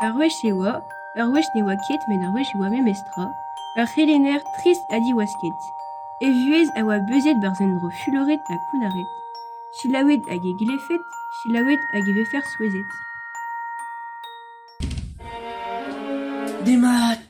Ur wech e oa, ur wech ne oa ket met ur wech e oa memestra, ur c'helenner trist ha diwasket. E vuhez a oa beuzet 'barzh un dro fuloret ha kounnaret, selaouet hag e glevfed, selaouet hag e vefer souezhet. Demat.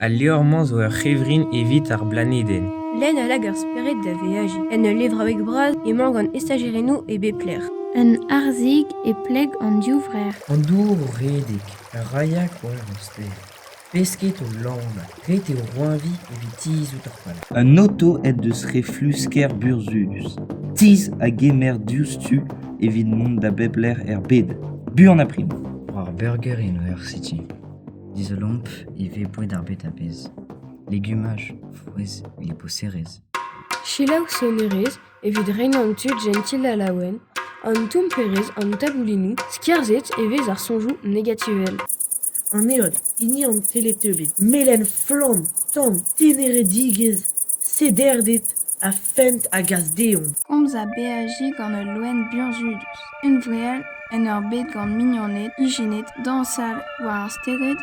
Al levr-mañ zo ur c'hevrin evit ar blanedenn. Lenn a lak ar spered da veajiñ. En ul levraoueg bras emañ gant estajerennoù e bep lec'h. Un harzhig e pleg an div vrec'h. An dour o redek, a raia koeñv ar stêr. Pesked o lanañ, ret eo roeñviñ evit tizhout ar pal. Un oto aet deus reflusker burzhudus. Tizh a gemer diouzhtu evit mont da bep lec'h er bed. Buan ha prim. War Burger University. Dizolomp ivez boued ar bed a-bezh, legumaj, frouezh, liboserezh. Selaou sonerezh evit reinañ an tud jentil ha laouen, an tomperezh, an taboulinoù skerzhet e vez ar soñjoù negativel. An heol, hini an teleteubiñ, melen flamm, tan, teneredigezh, sederded. Ha fent a gas dezhoñ. Komz ha beajiñ gant ul loen burzhudus, unvreal en ur bed gant mignoned ijinet dañsal war ar stered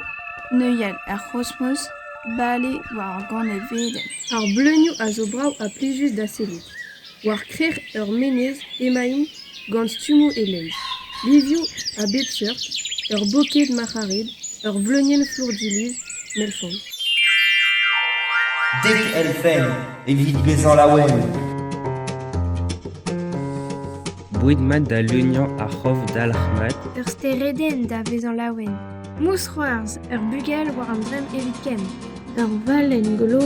neuial, ar c'hosmos bale war ur ganevedenn. Ar bleunioù a zo brav ha plijus da sellout. War krec'h ur menez emaint gant stummoù e-leizh, livioù a bep seurt, ur boked marc'harid, ur vleunienn flourdiluz melfant. Dek elfenn evit bezañ laouen. Boued mat da leuniañ ar c'hof dalc'hmat. Ur steredenn da vezañ laouen. Mousc'hoarzh, ur bugel war an dremm evit ken. Ur valenn glo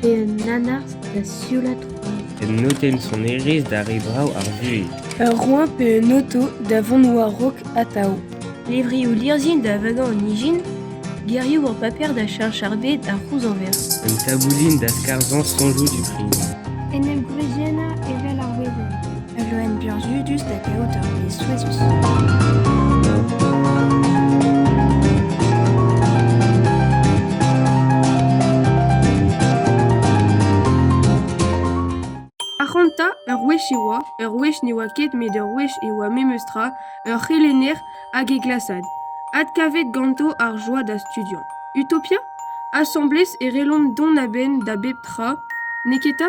pe un nanarzh da sioulaat koad. Un notenn sonerezh da re vrav ar vuhez. Ur roeñ pe un auto da vont war-raok atav. Levrioù lirzhin da vagañ an ijin. Gerioù ur paper da cheñch ar bed a c'houzañver. Un taboulin da skarzhañ soñjoù du prign. En em gwriziennañ evel ar wezenn. Ul loen burzhudus da gaout ur wezh souezhus. Ac'hanta, ur wech e oa, ur wech ne oa ket met ur wech e oa memestra, ur c'helenner hag e glasad, adkavet ganto ar joa da studiañ. Utopia? Asambles e rellont dont a-benn da bep tra, neketa?